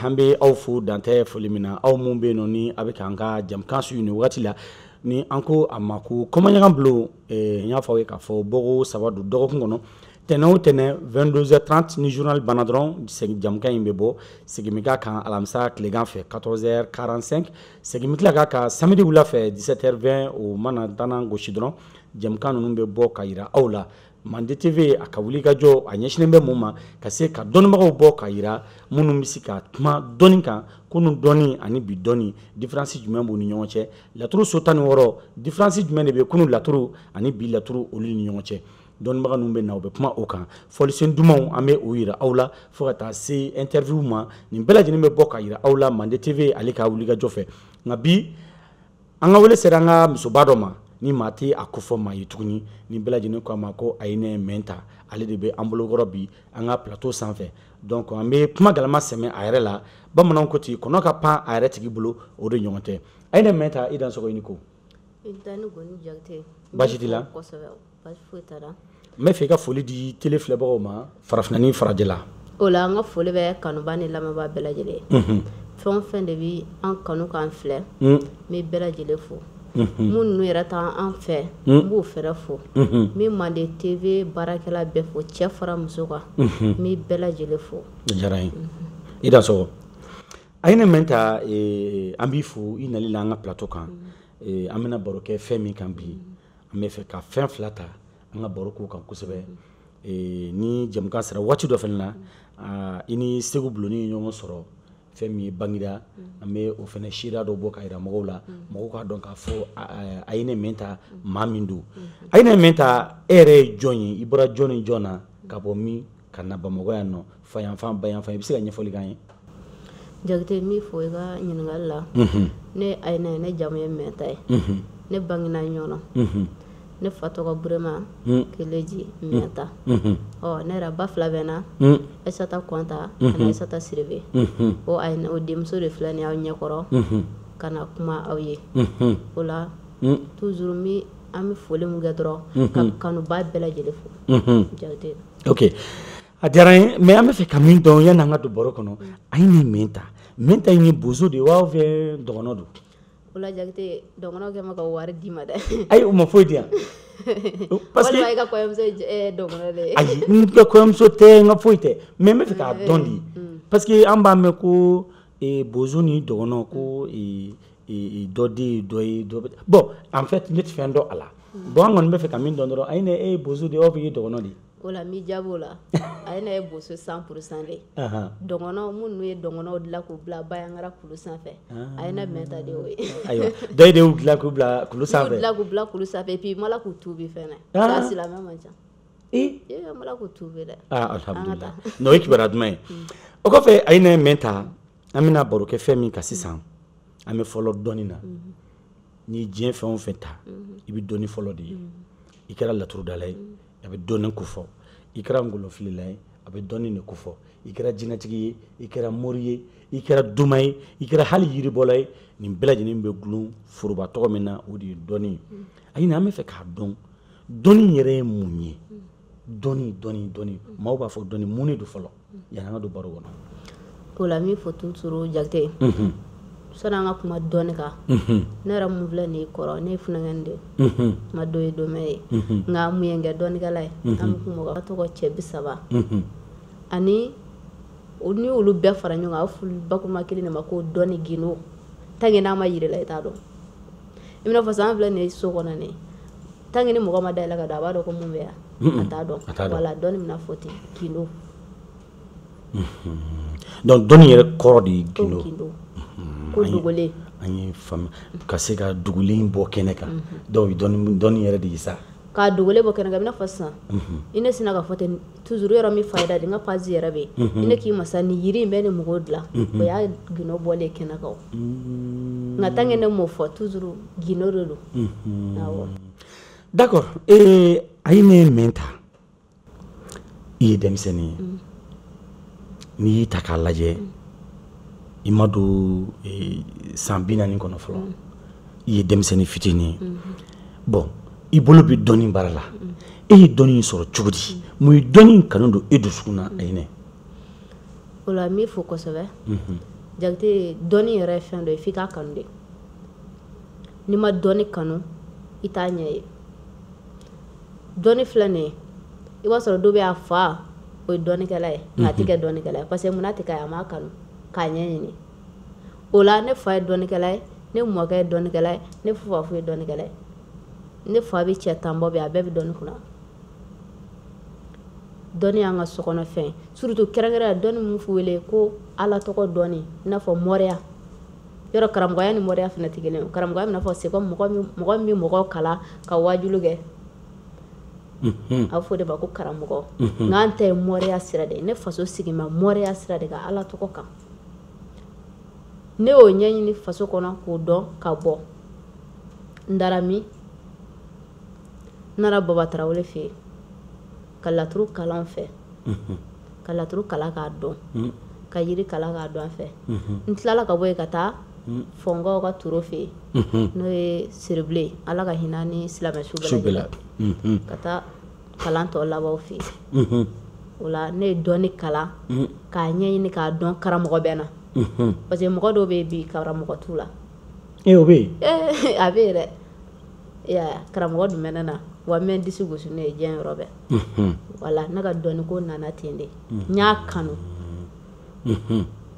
An bɛ aw fo dantɛ foli min na aw minnu bɛ yen nɔ ni a bɛ ka an ka jɛmukan suivi nin wagati la ni an ko a ma ko kumaɲɔgɔn bulon n y'a fɔ aw ye k'a fɔ bɔko saba don dɔgɔkun kɔnɔ tɛnɛn o tɛnɛn 22 heures 30 ni journal banna dɔrɔn jɛmukan in bɛ bɔ segin bɛ k'a kan alamisa tilegan fɛ 14 heures 45 segin bɛ tila k'a kan samedi wula fɛ 17 heures 20 o mana ntanan gosi dɔrɔn jɛmukan ninnu bɛ bɔ ka yira aw la Mande TV a ka wuli ka jɔ a ɲɛsinlen bɛ mun ma ka se ka dɔnnibagaw bɔ ka yira minnu bɛ se ka kuma dɔnni kan kunu dɔnni ani bi dɔnni différence jumɛn b'u ni ɲɔgɔn cɛ laturu so tan ni wɔɔrɔ différence jumɛn de bɛ kunu laturu ani bi laturu olu ni ɲɔgɔn cɛ dɔnnibaga ninnu bɛ na u bɛ kuma o kan fɔlisen dumanw an bɛ o yira aw la fo ka taa se interview ma nin bɛɛ lajɛlen bɛ bɔ ka yira aw la Mande TV ale ka wuli ka jɔ fɛ nka bi an ka wele sera an ka musoba dɔ ma ni maa tɛ a kofɔ maa ye tuguni ni bɛɛ lajɛlen ko a ma ko ayina mɛnta ale de bɛ an bolokɔrɔ bi an ka plateau sanfɛ donc an bɛ kuma galama sɛmɛ a yɛrɛ la bamananw ko ten kɔnɔ ka pan a yɛrɛ tigi bolo o de ɲɔgɔn tɛ ayina mɛnta i dansɔgɔ i ni ko i ni goni jakite baasi t'i la n bɛ fɛ i ka foli di tele filɛbagaw ma farafinna ni farajɛla o la an ka foli bɛ kanuba ni lamɛnba bɛɛ lajɛlen unhun fɛn o fɛn de bɛ an kanu k'an filɛ n bɛ bɛɛ lajɛlen fo minnu ninnu yɛrɛ tɛ an fɛ n b'o yɛrɛ fo n bɛ Mande TV baarakɛla bɛɛ fo cɛ fara muso kan n bɛ bɛɛ lajɛlen fo diyara n ye i dansɔgɔ ayina mɛnta eh, an b'i fo i nali la an ka plateau kan eh, an bɛna baro kɛ fɛn min kan bi an bɛ fɛ ka fɛn fila ta an ka baro k'o kan kosɛbɛ eh, ni jɛmukan sera waati dɔ fana na ah, i ni segu buloni ye ɲɔgɔn sɔrɔ fɛn min ye bangida an bɛ o fana seereya dɔ bɔ ka yira mɔgɔw la mɔgɔw k'a dɔn k'a fɔ ah, ah, ayina mɛnta maa min don ayina mɛnta e yɛrɛ ye jɔn ye i bɔra jɔn ni jɔn na ka bɔ min ka na bamakɔ yan nɔ fa yanfan ba yanfan i bɛ se ka ɲɛfɔli k'an ye jakite n b'i fo i ka ɲininkali la mhm. ne ayina ye ne jamu ye mɛnta ye mhm. ne bangena ɲɔnɔ mhm. ne fa tɔgɔ burema keleji mɛnta ɔ ne yɛrɛ ba fila bɛ n na ayisata kɔnta ani ayisata sidibe o ayina o denmuso de filɛ ni aw ɲɛkɔrɔ ka na kuma aw ye o la toujours mi an bɛ foli min kɛ dɔrɔn ka kanuba bɛɛ lajɛlen fo jakite ok a diyara n ye mais an bɛ fɛ ka min dɔn yanni an ka don baro kɔnɔ ayina mɛnta mɛnta in ye bozo de ye wa fo dɔgɔnɔ don o la jakite dɔgɔnɔkɛ ma ka wari d'i ma dɛ ayi o ma foyi di yan parce que i ka kɔɲɔmuso ye dɔgɔnɔ de ye ayi n ka kɔɲɔmuso tɛ n ka foyi tɛ mais n bɛ fɛ k'a dɔn de parce que an b'a mɛn ko bozo ni dɔgɔnɔ ko dɔ den ye dɔ ye bon en fait ne tɛ fɛn dɔn a la bɔn an kɔni bɛ fɛ ka min dɔn dɔrɔn aîné e ye bozo de ye ou bien e ye dɔgɔnɔ de ye o la n b'i jaabi o la ayi ne ye bozo cent pour cent de dɔgɔnɔw minnu ye dɔgɔnɔw dilan k'u bila banyagara kulu sanfɛ aîné mɛnta de y'o ye ayiwa dɔyi de y'u dilan k'u bila kulu sanfɛ dilan k'u bila kulu sanfɛ puis mala k'u tubi fɛnɛ k'a silamɛ man ca ee mala k'u tubi dɛ alhamdulilah n'o ye kibaruya duman ye o kɔfɛ aîné mɛnta an bɛna baro kɛ fɛn min kan sisan an bɛ fɔlɔ dɔnni na n'i ye diɲɛ fɛn o fɛn ta i bɛ dɔni fɔlɔ de ye i kɛra laturudala ye a bɛ dɔni ko fɔ i kɛra kolonfilila ye a bɛ dɔni de ko fɔ i kɛra jinɛtigi ye i kɛra mori ye i kɛra doma ye i kɛra hali yiribɔla ye nin bɛɛ lajɛlen bɛ dulon foroba tɔgɔ min na o de ye dɔni ye aîné an bɛ fɛ k'a dɔn dɔni yɛrɛ ye mun ye dɔni dɔni dɔni maaw b'a fɔ dɔni mun de don fɔlɔ yani an ka don baro kɔnɔ o la n b'i fo toujours jakite mhm. sani an ka kuma dɔni kan mhm. ne yɛrɛ min filɛ nin kɔrɔ ne ye funankɛnin de mhm. ma dɔ ye dɔmɛ ye nka mun ye n kɛ dɔnikɛla ye an bɛ kuma ka tɔgɔ cɛ bi saba ani ni olu bɛɛ fara ɲɔgɔn kan a fulu bakuma kelen de ma ko dɔni gindo tant que n'a ma yirila i t'a dɔn i bɛna fɔ sa an filɛ nin ye so kɔnɔ ne tan ni mɔgɔ ma da la ka don a b'a dɔn ko mun bɛ yan a t'a dɔn o la dɔnni bɛna fɔ ten gindo don ko dɔnni yɛrɛ kɔrɔ de ye gindo ko dogolen an y'a faamu ka se k'a dogolen bɔ kɛnɛ kan dɔw dɔnni yɛrɛ de ye sa k'a dogolen bɔ kɛnɛ kan i bɛna fɔ sisan i ne sina k'a fɔ ten toujours yɔrɔ min fayida de n ka page yɛrɛ bɛ yen ne k'i ma sa ni yiri in bɛ ni mɔgɔw dilan o y'a gindo bɔlen kɛnɛ kan nka tant que ne m'o fɔ toujours gindo de don awɔ d'accord ee aîné mɛnta i ye denmisɛnnin ye n'i y'i ta k'a lajɛ i ma don san bi naani kɔnɔ fɔlɔ i ye denmisɛnnin fitinin ye bɔn i bolo bɛ dɔni baara la e ye dɔni sɔrɔ cogo di mun ye dɔni kanu don i dusukun na aîné o la n b'i fo kosɛbɛ jakite dɔni yɛrɛ ye fɛn dɔ ye i k'a kanu de n'i ma dɔni kanu i t'a ɲɛ ye dɔni filɛ nin i b'a sɔrɔ dɔ bɛ a fa o ye dɔnikɛla ye a tɛ kɛ dɔnikɛla ye parce que mun na a m'a kanu k'a ɲɛ ɲini o la ne fa ye dɔnnikɛla ye ne mɔkɛ ye dɔnnikɛla ye ne fa fo ye dɔnnikɛla ye ne faw bɛ cɛ tan bɔ bɛ a bɛɛ bɛ dɔnni kunna dɔnni y'an ka sokɔnɔ fɛn surtout kɛrɛnkɛrɛnya dɔnni min bɛ wele ko ala tɔgɔ dɔn i n'a fɔ moriya yɔrɔ karamɔgɔya ni moriya fana tɛ kelen karamɔgɔya bɛna fɔ sa mɔgɔ min mɔgɔ kalan ka wajuli kɛ mhm. a fɔ o de ma ko karamɔgɔ mhm. nka an ta ye moriya sira de ne faso sigi ma moriya sira de kan ala tɔgɔ kan ne y'o ɲɛɲini faso kɔnɔ k'o dɔn ka bɔ n dara min n nana baba tarawele fɛ yen ka laturu kalan fɛ mhm. ka laturu kalan k'a dɔn mhm. ka yiri kalan k'a dɔn fɛ mhm. n tilala ka bɔ yen ka taa fɔnkɔw ka toro fɛ yen n'o ye siribilen ala ka hinɛ a ni silamɛsu bɛɛ lajɛ la ka taa kalan tɔ laban a fɛ yen o la ne ye dɔnni kalan k'a ɲɛɲini k'a dɔn karamɔgɔ bɛ n na parce que mɔgɔ dɔw bɛ yen bi karamɔgɔ t'u la ee o bɛ yen a bɛ yen dɛ karamɔgɔ dun bɛ ne na wa n bɛ disi gosi ne ye diɲɛ yɔrɔ bɛɛ wa ne ka dɔnni ko nana ten de n y'a kanu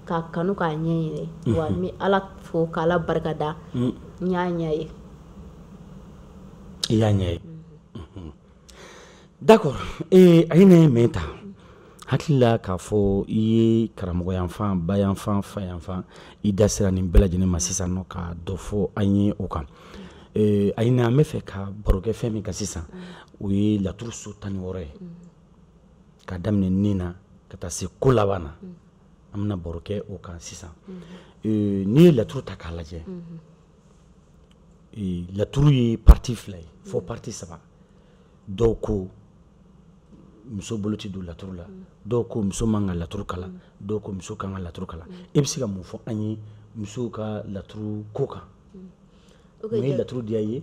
k'a kanu k'a ɲɛɲini wa n bɛ ala fo k'ala barikada n y'a ɲɛ ye i y'a ɲɛ ye d'accord a ye ne ye min ta hakili la k'a fɔ i ye karamɔgɔyanfan bayanfan fayanfan i da sera nin bɛɛ lajɛlen ma sisan nɔ ka dɔ fɔ an ye o kan a n an bɛ fɛ ka barokɛ fɛn min kan sisan o ye laturu so tan ni wɔɔrɔ ye ka daminɛ nin na ka taa se ko laban na an bɛna barokɛ o kan sisan n'i ye laturu ta k'a lajɛ laturu ye partie fila ye fo partie saba dɔw ko muso bolo tɛ don laturu la dɔw ko muso man ka laturu kalan dɔw ko muso kan ka laturu kalan e bɛ se ka mun fɔ an ye musow ka laturu ko kan o ye laturu diya ye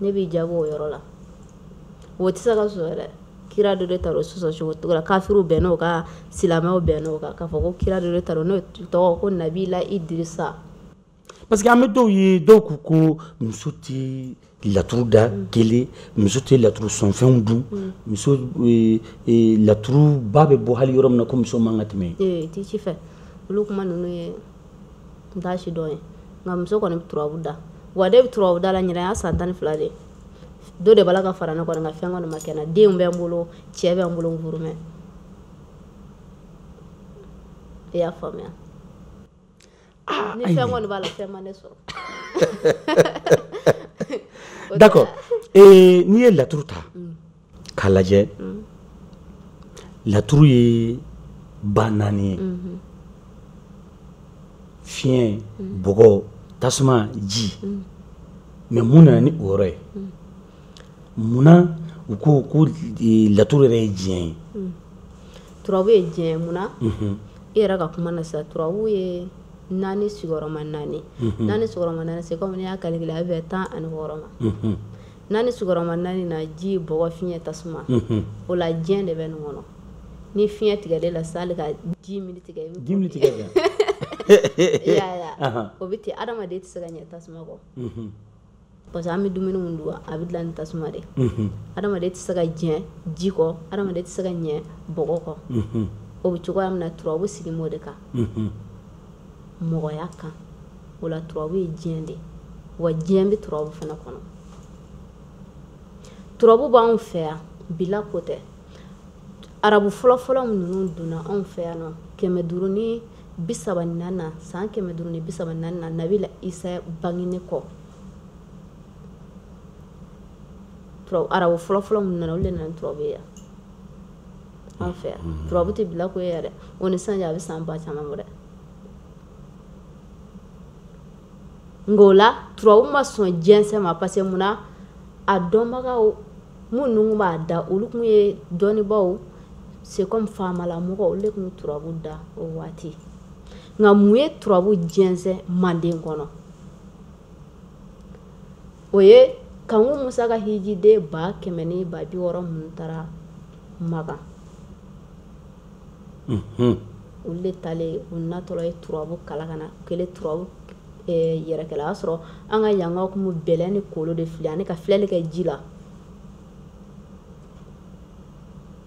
ne b'i jaabi o yɔrɔ la o tɛ se ka sɔsɔ yɛrɛ kira dɔ de ta sɔsɔ cogo cogo la kafiriw bɛnn'o kan silamɛw bɛnn'o kan k'a fɔ ko kira dɔ de ta n'o tɔgɔ ko nabila idirisa parce que an bɛ dɔw ye dɔw ko ko muso tɛ laturu da mm. kelen muso tɛ laturu sɔnfɛnw dun mm. muso e, e, laturuba bɛ bɔ hali yɔrɔ min na ko muso man ka tɛmɛ yen tɛ ci fɛ olu kuma ninnu ye n t'a si dɔn ye nka muso kɔni bɛ turabu da wa ne bɛ turabu da la ɲinan y'a san tan ni fila de dɔ de b'a la ka fara ne kɔni nka fɛn kɔni ma kɛ n na denw bɛ n bolo cɛ bɛ n bolo n furu mɛ i y'a faamuya ah, ni fɛn kɔni b'a la fɛn ma ne sɔrɔ d'accord n'i ye laturu ta mm. k'a lajɛ mm. laturu ye ba naani ye mm-hmm. fiɲɛ mm. bɔgɔ tasuma ji mm. mais mun nana ni o yɔrɔ ye munna u ko ko e, laturu yɛrɛ ye diɲɛ ye turabu ye diɲɛ ye munna mm-hmm. i yɛrɛ ka kuma na sisan turabu ye naani sigiyɔrɔma naani mm-hmm. naani sigiyɔrɔma naani c'est comme n'i y'a calculer a bɛ bɛn tan ani wɔɔrɔ ma naani sigiyɔrɔma naani na ji bɔgɔ fiɲɛ tasuma mhm. o la diɲɛ de bɛ nin kɔnɔ ni fiɲɛ tigɛra e la sani ka dix minutes kɛ dix minutes kɛ ya ya o bɛ ten adamaden tɛ se ka ɲɛ tasuma kɔ mhm. parce que an bɛ dumuni min dun a bɛ dilan ni tasuma de mhm. adamaden tɛ se ka ɲɛ ji kɔ adamaden tɛ se ka ɲɛ bɔgɔ kɔ o bɛ cogoya min na turabu sigi b'o de kan mɔgɔya kan o la turabu ye diɲɛ de wa diɲɛ bɛ turabu fana kɔnɔ turabu b'anw fɛ yan bi la ko tɛ arabu fɔlɔfɔlɔ minnu donna anw fɛ yan nɔ kɛmɛ duuru ni bi sabanan na san kɛmɛ duuru ni bi sabanan na nabila isa bangelen kɔ arabu fɔlɔfɔlɔ minnu nana olu de nana ni turabu ye yan an fɛ yan mm-hmm. turabu tɛ bi la ko ye yɛrɛ o ni sisan cɛ a bɛ san ba caman bɔ dɛ nka o la turabu ma sɔn jɛnsɛn ma parce que mun na a dɔnbagaw minnu tun b'a da olu tun ye dɔnnibaaw c'est comme faamalamɔgɔ olu de tun bɛ turabu da o waati nka mun ye turabu jɛnsɛn manden kɔnɔ o ye kanku musa ka hijiden ba kɛmɛ ni ba bi wɔɔrɔ minnu taara makan olu de taalen u natɔla ye turabu kalan ka na o kɛlen turabu eh, yɛrɛkɛla k'a sɔrɔ an ka yankaw tun bɛ bɛlɛ ni kolon de fili ani ka filɛli kɛ ji la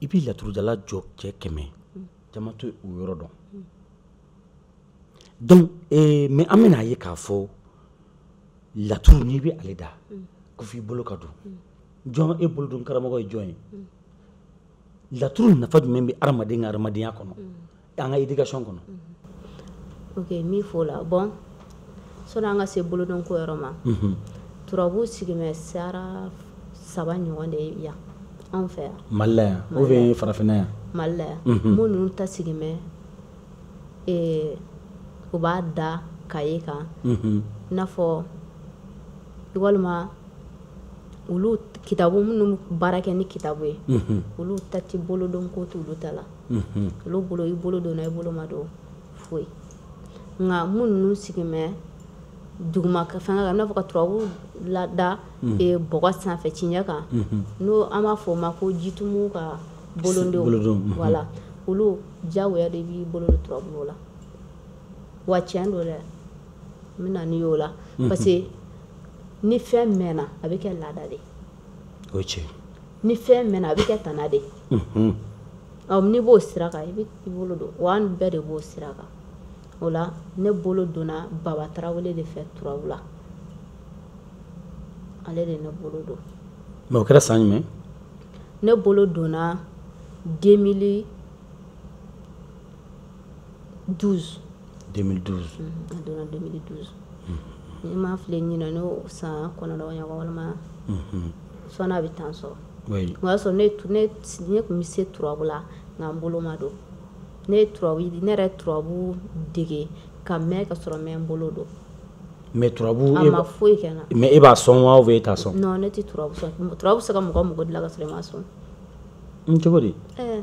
i bɛ laturudala jɔ cɛ kɛmɛ caman t'o yɔrɔ dɔn donc eh, mais an bɛna a ye k'a fɔ laturu n'i bɛ ale da ko f'i bolo ka don jɔn y'i bolo don karamɔgɔ ye jɔn ye laturu nafa jumɛn bɛ adamaden ka adamadenya kɔnɔ an ka éducation kɔnɔ ok min f'o la bon sani an ka se bolodon ko yɔrɔ ma mhm. turabu sigi bɛ sira saba ɲɔgɔn de ye yan anw fɛ yan mali la yan ou bien farafinna yan mali la yan mhm. minnu ta sigi bɛ eh, u b'a da kaye kan mhm. i n'a fɔ walima olu kitabu minnu bɛ baara kɛ ni kitabu ye olu ta tɛ bolodon ko olu ta la olu bolo i bolo donna i bolo ma don foyi nka minnu sigi bɛ duguma ka fanga kan n'a fɔ ka turabu da bɔgɔ sanfɛ cɛncɛn kan n'o an b'a fɔ o ma ko jitumu ka bolodon wala olu jawo de b'i bolo don turabu la wa tiɲɛ don dɛ n bɛ na o la parce ni fɛn mɛnna a bɛ kɛ laada de o cɛ ni fɛn mɛnna a bɛ kɛ tana de n'i b'o sira kan i bɛ i bolo don wa an bɛɛ de b'o sira kan o la ne bolo donna baba tarawele de fɛ turabu la ale de ne bolo don mais o kɛra san jumɛn ne bolo donna 2000 12 2012 a donna 2012 ni n ma fili ɲinan y'o san kɔnɔntɔn ɲɔgɔn walima sɔɔni a bɛ tan sɔrɔ oui o y'a sɔrɔ ne tu- ne s- ne tun bɛ se turabu la nka n bolo ma don ne ye turabu ne yɛrɛ ye turabu dege ka mɛn ka sɔrɔ n ma n bolo don mais turabu a e ma ba- foyi kɛ n na mais e b'a sɔn wa ou bien e t'a sɔn non ne tɛ turabu sɔn turabu bɛ se ka mɔgɔ mɔgɔ dilan ka sɔrɔ i m'a sɔn cogo di ɛɛ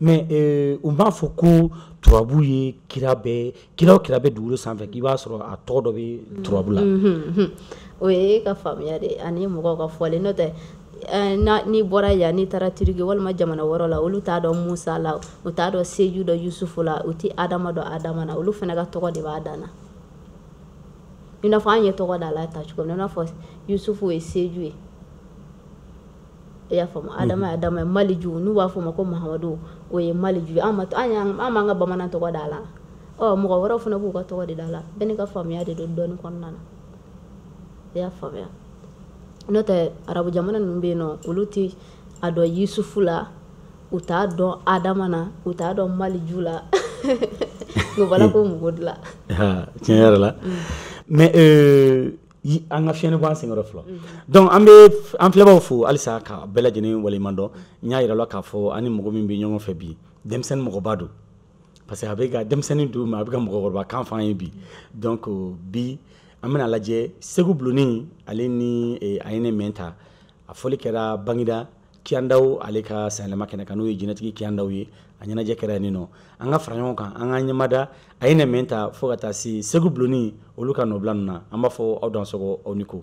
mais eh, u b'a fɔ ko turabu ye kira bɛ kira o kira bɛ dugukolo sanfɛ k'i b'a sɔrɔ a tɔgɔ dɔ bɛ turabu la mm-hmm, mm-hmm. o ye e ka faamuya de ani mɔgɔw ka fɔlen n'o tɛ eh, n'i bɔra yan n'i taara turiki walima jamana wɛrɛ la olu t'a dɔn musa la u t'a dɔn seju dɔn yusufu la u tɛ adama dɔn adama na olu fana ka tɔgɔ de b'a dan na i n'a fɔ an ye tɔgɔ da la ta cogo min na i n'a fɔ yusufu ye seju ye i y'a faamu adama ye adama ye maliju n'u b'a fɔ ma ko mahamadu o ye maliju ye an b'an ka bamanan tɔgɔ da la ɔ mɔgɔ wɛrɛw fana b'u ka tɔgɔ de da la bɛɛ n'i ka faamuya de don dɔnni kɔnɔna na i y'a faamuya n'o tɛ arabu jamana ninnu bɛ yen nɔ olu tɛ a dɔn yusufu la u t'a dɔn adama na u t'a dɔn maliju la nka u b'a la ka mɔgɔ dilan tiɲɛ yɛrɛ la mɛ an ka fiɲɛni bɔ an senkɔrɔ fɔlɔ donc an bɛ an filɛbaaw fo halisa ka bɛɛ lajɛlen waleɲuman dɔn n y'a yira la k'a fɔ an ni mɔgɔ min bɛ ɲɔgɔn fɛ bi denmisɛnnin mɔgɔba don parce que a bɛ ka denmisɛnnin don mais a bɛ ka mɔgɔkɔrɔba kan fɔ an ye bi donc bi an bɛna lajɛ segu bulonni ale ni eh, a ye ne mɛn ta a fɔli kɛra bangida kiyandaw ale ka sanyɛlɛma kɛnɛ kan n'o ye jinɛtigi kiyandaw ye a ɲɛnajɛ kɛra yen nɔ an ka fara ɲɔgɔn kan an ka ɲɛmada a ye nɛmɛ ta fo ka taa se segu bulonni olu ka nɔbila ninnu na an b'a fɔ aw dansɔgɔ aw ni ko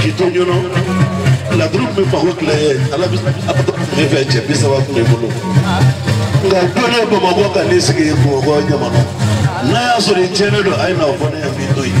Kito ɲɔnɔ laduru bɛ mago tile ala bɛ ala bɛ tile fɛ cɛ bi saba tun bɛ n bolo nka dɔnni bamakɔ ka ne sigi bamakɔ ɲamana n'a y'a sɔrɔ i tiɲɛnen don a ye na fɔ ne ye bi to yen.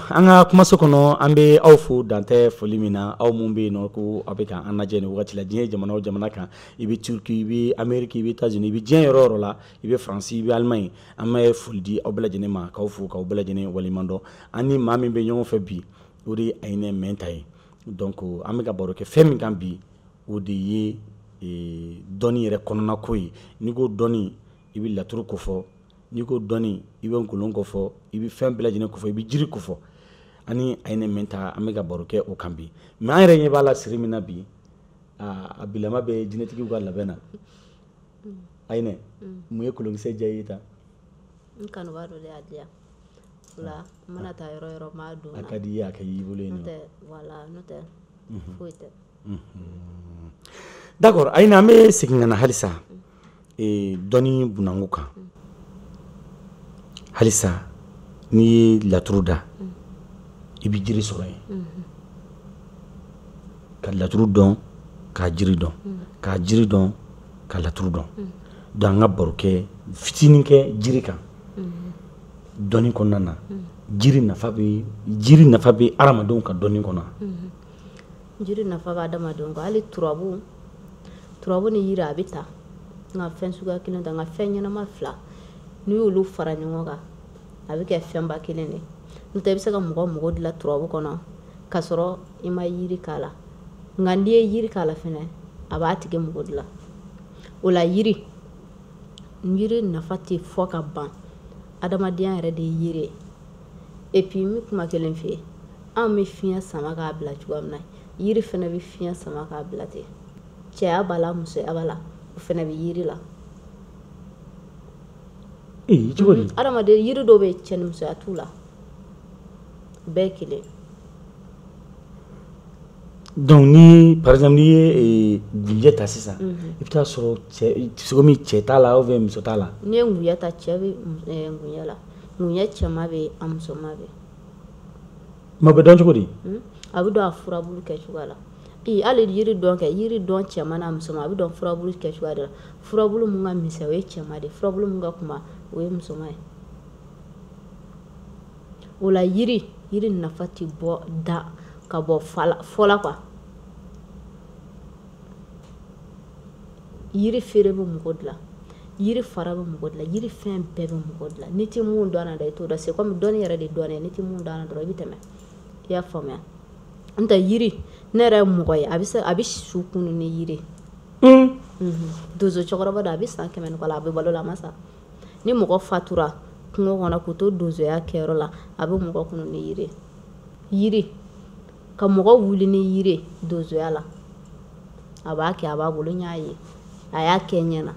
An ka kumaso kɔnɔ an bɛ aw fo dantɛ foli min na aw minnu bɛ yen nɔ ko aw bɛ ka an lajɛ nin waati la diɲɛ jamana o jamana kan i bɛ Turquie i bɛ Amérique i bɛ Etats Unis i bɛ diɲɛ yɔrɔ o yɔrɔ la i bɛ France i bɛ Allemagne an bɛ foli di aw bɛɛ lajɛlen ma k'aw fo k'aw bɛɛ lajɛlen waleɲuman dɔn an ni maa min bɛ ɲɔgɔn fɛ bi o de ye Ayinɛ Mɛnta ye donc an bɛ ka baro kɛ fɛn min kan bi o de ye dɔnni yɛrɛ kɔnɔna ko ye n'i ko dɔnni i bɛ laturu kofɔ n'i ko dɔnni i bɛ kolon kofɔ i bɛ fɛn bɛɛ lajɛlen kofɔ i bɛ jiri kofɔ ani Ayinɛ Mɛnta an bɛ ka baro kɛ o kan bi mais an yɛrɛ ɲɛ b'a la siri min na bi a bilama bɛ jinɛtigiw ka labɛn na Ayinɛ mun ye kolonkisɛ diya i ye tan n kanubaa dɔ de y'a diya la n mana taa yɔrɔ o yɔrɔ n b'a don a ka di i ye a kɛ y'i bolo ye n'o tɛ wala n'o tɛ foyi tɛ d'accord Ayinɛ an bɛ segin ka na halisa ee dɔnni kɔnɔna ko kan halisa n'i ye laturu da i bɛ jiri sɔrɔ yen ka laturu dɔn k'a jiri dɔn k'a jiri dɔn ka laturu dɔn donc an ka baro kɛ fitinin kɛ jiri kan dɔnni kɔnɔna na jiri nafa bɛ jiri nafa bɛ hadamadenw ka dɔnni kɔnɔ jiri nafa bɛ adamadenw kan hali turabu turabu ni yiri a bɛ ta nka fɛn suguya kelen ta nka fɛn ɲɛnama fila n'i y'olu fara ɲɔgɔn kan a bɛ kɛ fɛnba kelen de n'o tɛ i bɛ se ka mɔgɔ mago dilan turabu kɔnɔ k'a sɔrɔ i ma yiri k'a la nka n'i ye yiri k'a la fɛnɛ a b'a tigi mago dilan o la yiri yiri nafa tɛ fɔ ka ban adamadenya yɛrɛ de ye yiri ye et puis n bɛ kuma kelen f'i ye anw bɛ fiɲɛ sama k'a bila cogoya min na yiri fana bɛ fiɲɛ sama k'a bila ten cɛya b'a la musoya b'a la o fana bɛ yiri la ee cogo di adamaden yiri dɔw bɛ cɛ ni musoya t'u la bɛɛ kelen donc ni par exemple n'i ye eh, gunjɛ ta sisan mhm. i bɛ taa sɔrɔ cɛ sogo min cɛ t'a la ou bien muso t'a la n'i ye ŋuya ta cɛ bɛ eh, ŋuya la ŋuya cɛman bɛ yen a musoman bɛ yen Ma bɛ dɔn cogo di hmm? a bɛ dɔn a furabulu kɛ cogoya la hali yiri dɔ kɛ yiri dɔ cɛman n'a musoman a bɛ dɔn furabulu kɛ cogoya de la furabulu min ka misɛn o ye cɛman de furabulu min ka kunba o ye musoman ye o la yiri yiri nafa tɛ bɔ da ka bɔ fɔ la quoi yiri feere bɛ mɔgɔ dilan yiri fara bɛ mɔgɔ dilan yiri fɛn bɛɛ bɛ mɔgɔ dilan n'i tɛ mun dɔn na dɛ i t'o dɔn c'est comme dɔnni yɛrɛ de don n'i tɛ mun dɔn na dɔrɔn i bɛ tɛmɛ i y'a faamuya n tɛ yiri ne yɛrɛ ye mɔgɔ ye a bɛ se a bɛ su kunun ni yiri hmm. mhm. dozo cɛkɔrɔba don a bɛ san kɛmɛ ni kɔ la a bɛ balo la a ma sa ni mɔgɔ fatura kungo kɔnɔ k'u to donzoya kɛyɔrɔ la a bɛ mɔgɔ kunun ni yiri yiri ka mɔgɔ wuli ni yiri donsoya la a b'a kɛ a b'a bolo n y'a ye a y'a kɛ n ɲɛ na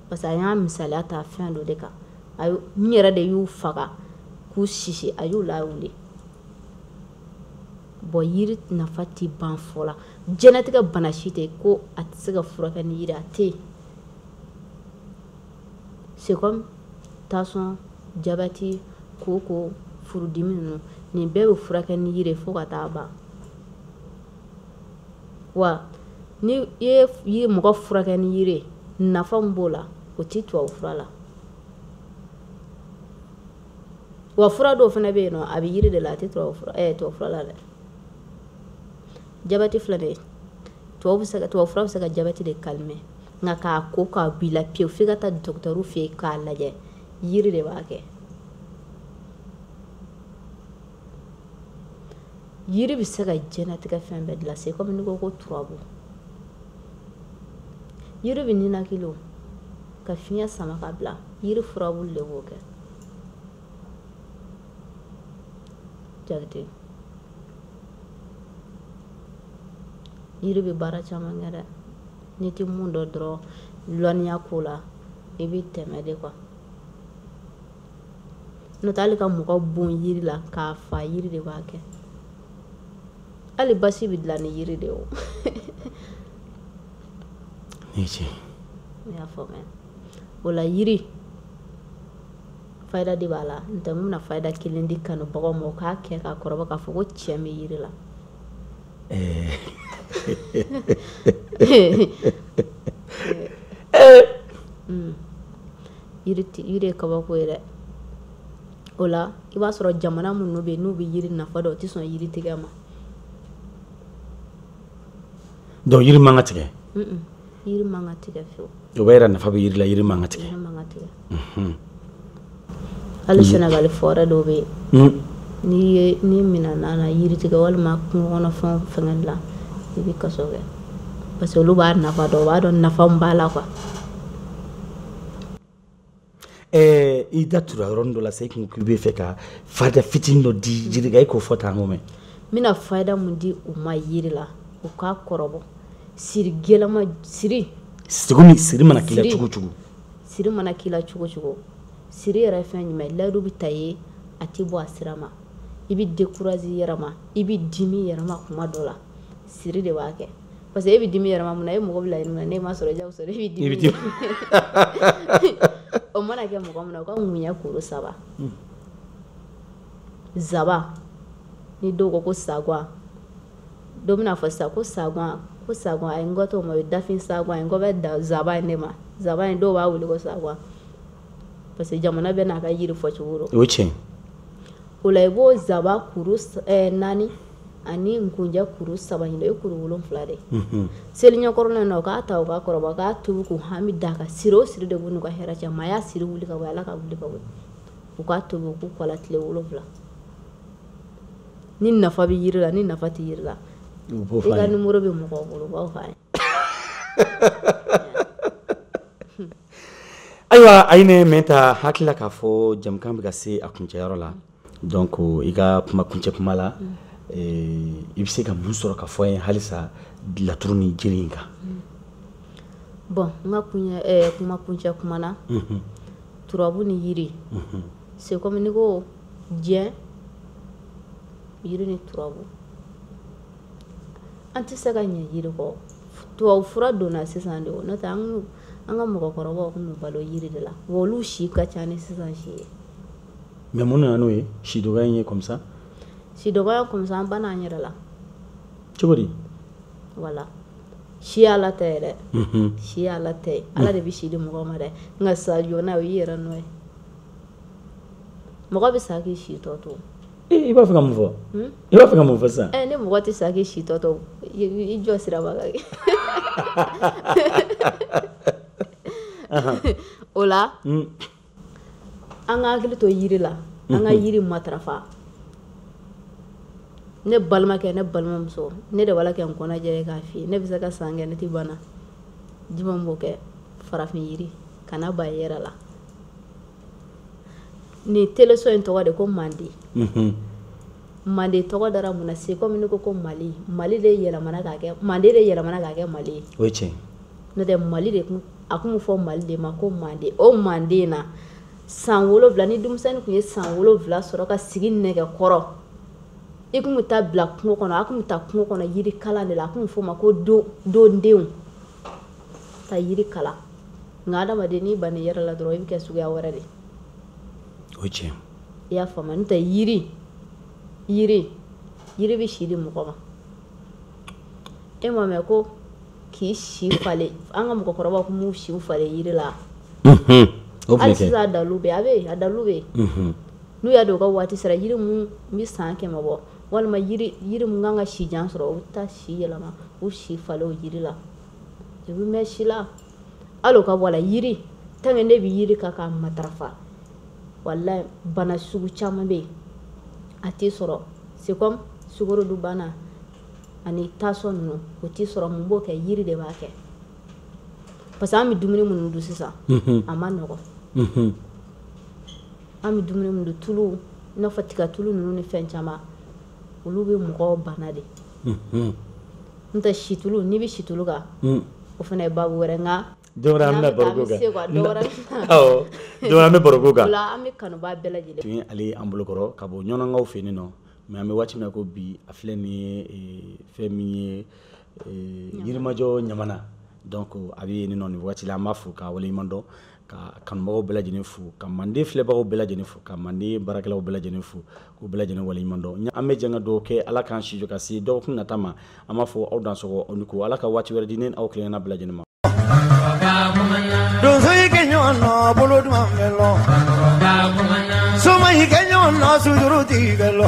parce que a y'a misaliya ta fɛn dɔ de kan a yɛrɛ de y'u faga k'u sisi a y'u lawuli bɔn yiri nafa tɛ ban fɔ la jɛnatigɛ bana si tɛ ko a tɛ se ka furakɛ ni yiri a tɛ yen c'est comme tansiyɔn jabati kooko furudimi ninnu nin bɛɛ bɛ furakɛ ni yiri fo ka taa ban wa n'i ye mɔgɔ furakɛ ni yiri nafa min b'o la o tɛ tubabu fura la wa fura dɔw fana bɛ yen a bɛ yiri de la a tɛ fura la dɛ jabati filɛ de ye tubabu fura bɛ se ka jabati de calmer nka k'a ko k'a b'i la pewu f'i ka taa dɔgɔtɔrɔw fɛ yen k'a lajɛ yiri de b'a kɛ yiri bɛ se ka jɛnatigɛ fɛn bɛɛ dilan c'est comme n'i ko ko turabu yiri bɛ ninakili o ka fiɲɛ sama ka bila yiri furabulu de b'o kɛ jate yiri bɛ baara caman kɛ dɛ n'i tɛ mun dɔn dɔrɔn lɔnniya ko la i bɛ tɛmɛ de quoi n'o tɛ hali ka mɔgɔ bon yiri la k'a fa yiri de b'a kɛ hali basi bɛ dilan ni yiri de ye o ne ce ne y'a faamuya o la yiri fayida de b'a la n tɛ n bɛna fayida kelen di kanubagaw ma u k'a kɛ k'a kɔrɔbɔ k'a fɔ ko tiɲɛ bɛ yiri la yiri ye kabako ye dɛ o la i b'a sɔrɔ jamana minnu bɛ yen n'u bɛ yiri nafa dɔn o tɛ sɔn yiri tigɛ ma donc yiri man ka tigɛ yiri man ka tigɛ fiyewu o b'a yira nafa bɛ yiri la yiri man ka tigɛ yiri man ka tigɛ mhm. hali mhm. sɛnɛgali forêt dɔw bɛ yen mhm. n'i ye n'i minɛna na yiri tigɛ walima kungo kɔnɔ fɛnw fɛngɛli la i bɛ kaso kɛ parce que olu b'a nafa dɔn u b'a dɔn nafa min b'a la quoi ɛɛ i da tura yɔrɔnin dɔ la sa i kun k'i b'a fɛ ka fayida fitinin dɔ di jiri kan e k'o fɔ tan ko mɛn n bɛna fayida mun di u ma yiri la u k'a kɔrɔbɔ siri gɛlɛman siri siri min siri mana k'i la cogo cogo siri mana k'i la cogo cogo siri yɛrɛ fɛn jumɛn layidu bɛ ta i ye a tɛ bɔ a sira ma i bɛ dekurazi yɛrɛ ma i bɛ dimi yɛrɛ ma kuma dɔ la siri de b'a kɛ parce que e bɛ dimi yɛrɛ ma mun na e mɔgɔ bila yɛrɛ ne ma sɔrɔ jaw sɔrɔ e bɛ dimi o mana kɛ mɔgɔ min na o ka ŋunya kuru saba hmm. zaba ni dɔw ko ko sagwa dɔ bɛna fɔ sisan ko sagwa ko sagwa a ye n gɔtɔ ma o ye dafin sagwa ye n gɔ bɛ da zaba ye ne ma zaba ye dɔw b'a wele ko sagwa parce que jamana bɛɛ n'a ka yiri fɔ cogo o tiɲɛ o la i b'o zaba kuru eh, naani ani nkunjɛ kuru saba ɲin ye kuru wolon wolonwula de seli ɲɛkɔrɔ na u k'a ta u k'a kɔrɔbɔ u k'a tobi k'u hami da ka siri o siri de b'u n'u ka hɛrɛ cɛ ma y'a siri wuli ka bɔ ala ka wuli ka bɔ u k'a tobi k'u ko a la tile wolonwula ni nafa bɛ jiri la ni nafa tɛ jiri la i ka nimɔrɔ bɛ mɔgɔ bolo u b'a f'i ye ayiwa a ye ne mɛn ta hakilila k'a fɔ jɛmukan bɛ ka se a kuncɛyɔrɔ la donc i ka kuma kuncɛ kuma la eh, i bɛ se ka mun sɔrɔ ka fɔ an ye halisa laturu ni jiri in kan bon n ka kuncɛ eh, kuma kuncɛ kuma na mhm. turabu ni yiri mhm. c'est comme n'i ko diɲɛ yiri ni turabu an tɛ se ka ɲɛ yiri kɔ tubabu fura donna sisan de n'o tɛ an ka mɔgɔkɔrɔbaw tun balo yiri de la wa olu si ka ca ni sisan si ye mais mun nana n'o ye si dɔgɔ in ye comme ça si dɔgɔ comme ça an banna an yɛrɛ la cogo di wala si ala tɛ yɛrɛ si ala tɛ ala de bɛ si di mɔgɔ ma dɛ nka sa joona o y'i yɛrɛ nɔ ye mɔgɔ bɛ sa k'i si tɔ to ee i b'a fɛ ka mun fɔ i b'a fɛ ka mun fɔ sisan ni mɔgɔ tɛ sa k'i si tɔ to i jɔ siraba kan kɛ o la an ka hakili to yiri la an ka yiri matarafa ne balimakɛ ne balimamuso ne de b'a la kɛ n kɔnɔ jɛ k'a f'i ye ne bɛ se ka san kɛ ne tɛ bana jumɛn b'o kɛ farafin yiri kana ban i yɛrɛ la nin teleso in tɔgɔ de ko manden mhm. manden tɔgɔ dara mun na c'est comme ne ko ko mali mali de yɛlɛmana k'a kɛ manden de yɛlɛmana k'a kɛ mali ye o ye tiɲɛ n'o tɛ mali de kun a kun bɛ fɔ mali de ma ko manden o manden na san wolonwula ni denmisɛnnin kun ye san wolonwula sɔrɔ ka sigi nɛgɛ kɔrɔ i kun bɛ taa bila kungo kɔnɔ a kun bɛ taa kungo kɔnɔ yiri kalan de la a kun bɛ f'o ma ko don dondenw ka yiri kalan nka adamaden n'i banna i yɛrɛ la dɔrɔn i bɛ kɛ suguya wɛrɛ de o ye tiɲɛ i y'a faamuya n'o tɛ yiri yiri yiri bɛ si di mɔgɔ ma e m'a mɛn ko k'i si falen an ka mɔgɔkɔrɔbaw tun b'u siw falen yiri la hali sisan a dalu bɛ a bɛ yen a dalu bɛ yen n'u y'a dɔn u ka waati sera yiri mun bɛ san kɛmɛ bɔ walima yiri yiri mun kan ka si jan sɔrɔ u bɛ taa si yɛlɛma u si falen o yiri la i bɛ mɛn si la hali o ka bɔ a la yiri tant que ne bɛ yiri kan k'a matarafa walayi bana sugu caman bɛ yen a tɛ sɔrɔ c'est comme sukorodunbana ani tansɔn ninnu o tɛ sɔrɔ mun b'o kɛ yiri de b'a kɛ parce que an bɛ dumuni minnu dun sisan a man nɔgɔn an bɛ dumuni minnu dun tulu i n'a fɔ tigatulu ninnu ni fɛn caman olu bɛ mɔgɔw bana de n tɛ situlu n'i bɛ situlu kan o fana ye ba wɛrɛ n don wɛrɛ an bɛ baro k'o kan don wɛrɛ an bɛ baro k'o kan an bɛ kanubaa bɛɛ lajɛlen tun ale an bolokɔrɔ ka bɔ ɲɔnkaw fɛ nin nɔ ma an bɛ waati min ko bi a filɛ min ye fɛn min ye yirimajɔ ɲamana dɔn ko a bɛ nin nɔ nin waati la an b'aw fo k'aw waleɲuman dɔn ka kanubagaw bɛɛ lajɛlen fo ka manden filɛbagaw bɛɛ lajɛlen fo ka manden baarakɛlaw bɛɛ lajɛlen fo k'u bɛɛ lajɛlen waleɲuman dɔn an bɛ jɛ ka duwa kɛ ala k'an si jɔ ka se dɔgɔkun nata ma an b'a fɔ aw dansɔgɔ aw ni ko ala ka waati wɛrɛ di ne ni aw kelenna bɛɛ lajɛlen ma donso y'i kɛ ɲɔgɔn nɔ bolo duman bɛ lɔ soma y'i kɛ ɲɔgɔn nɔ sujuru tigɛ bɛ lɔ